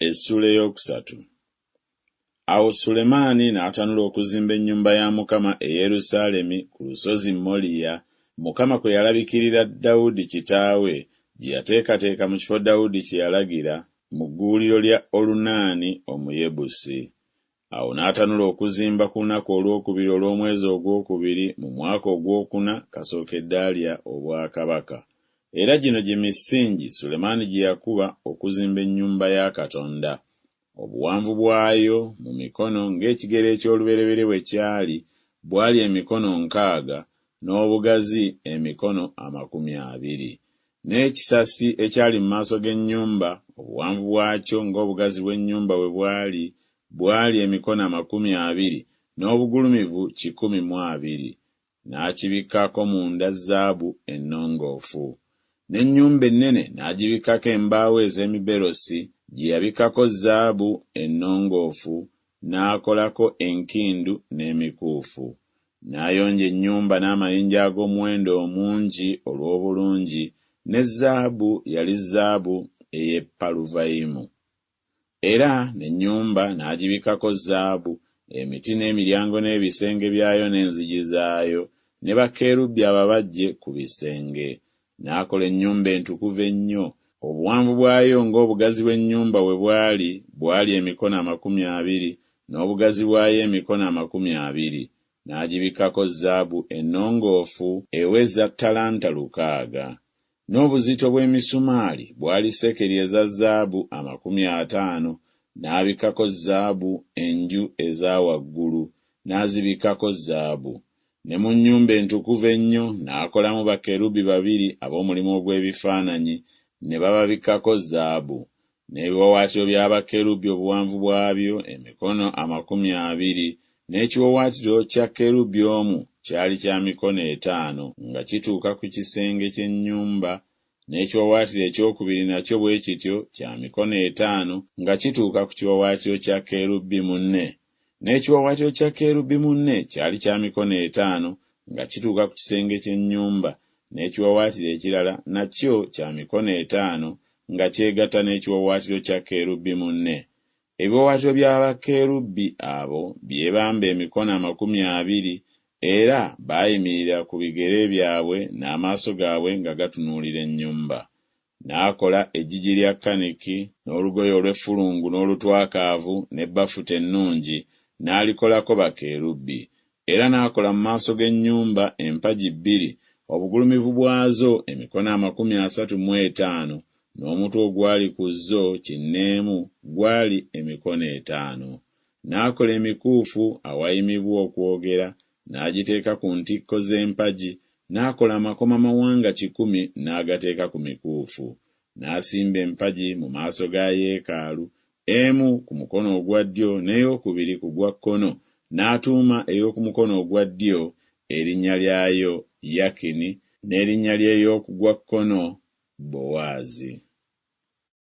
Essuula eyookusatu. Awo Sulemaani n'atanula okuzimba ennyumba ya Mukama e Yerusaalemi ku lusozi Moliya, Mukama kwe yalabikirira Dawudi kitaawe, gye yateekateeka mu kifo Dawudi kye yalagira, mu gguuliro lya Olunaani Omuyebusi. Awo n'atanula okuzimba ku lunaku olwokubiri olw'omwezi ogwokubiri mu mwaka ogwokuna kasookedde alya obwakabaka. Era gino gye misingi Sulemaani gye yakuba okuzimba ennyumba ya Katonda. Obuwanvu bwayo, mu mikono, ng'ekigero eky'olubereberye bwe kyali, bwali emikono nkaaga, n'obugazi emikono amakumi abiri. N'ekisasi ekyali mu maaso g'ennyumba, obuwanvu bwakyo ng'obugazi bw'ennyumba bwe bwali, bwali emikono amakumi abiri, n'obugulumivu kikumi mu abiri. N'akibikkaako munda zaabu ennongoofu. N'ennyumba ennene n'agibikkako embaawo ez'emiberosi, gye yabikkako zaabu ennongoofu, n'akolako enkindu n'emikuufu, n'ayonja ennyumba n'amayinja ag'omuwendo omungi olw'obulungi, ne zaabu yali zaabu ey'e Paluvayimu. Era n'ennyumba n'agibikkako zaabu, emiti n'emiryango n'ebisenge byayo n'enzigi zaayo, ne bakerubi ababajje ku bisenge, n'akola ennyumba entukuvu ennyo. Obuwanvu bwayo ng'obugazi bw'ennyumba bwe bwali, bwali emikono amakumi abiri, n'obugazi bwayo emikono amakumi abiri. N'agibikkako zaabu ennongoofu eweza ttalanta lukaaga. N'obuzito bw'emisumaali bwali sekeri eza zaabu amakumi ataano. N'abikkako zaabu enju eza waggulu, n'azibikkako zaabu. Ne mu nnyumba entukuvu ennyo n'akolamu bakerubi babiri ab'omulimu ogw'ebifaananyi, ne bababikkako zaabu. N'ebiwaawaatiro bya bakerubi obuwanvu bwabyo emikono amakumi abiri, n'ekiwaawaatiro kya kerubi omu kyali kya mikono etaano, nga kituuka ku kisenge ky'ennyumba, n'ekiwaawaatiro ekyokubiri nakyo bwe kityo kya mikono etaano, nga kituuka ku kiwaawaatiro kya kerubi munne N'ekiwaawaatiro kya kerubi munne kyali kya mikono etaano nga kituuka ku kisenge ky'ennyumba, n'ekiwaawaatiro ekirala nakyo kya mikono etaano nga kyegatta n'ekiwaawaatiro kya kerubi munne. Ebiwaawaatiro bya bakerubi abo byebamba emikono amakumi abiri, era baayimirira ku bigere byabwe n'amaaso gaabwe nga gatunuulira ennyumba. N'akola eggigi lya kaniki, n'olugoye olw'effulungu n'olutwakaavu, ne bafuta ennungi, n'alikolako bakerubi. Era n'akola mu maaso g'ennyumba empagi bbiri, obugulumivu bwazo emikono amakumi asatu mu etaano, n'omutwe ogwali ku zo kinneemu gwali emikono etaano. N'akola emikuufu awayimibwa okwogera, n'agiteeka ku ntikko z'empagi, n'akola amakomamawanga kikumi n'agateeka ku mikuufu. N'asimba empagi mu maaso ga yeekaalu, emu ku mukono ogwa ddyo n'eyookubiri ku gwa kkono, n'atuuma ey'oku mukono ogwa ddyo erinnya lyayo Yakini, n'erinnya ly'ey'oku gwa kkono Bowaazi.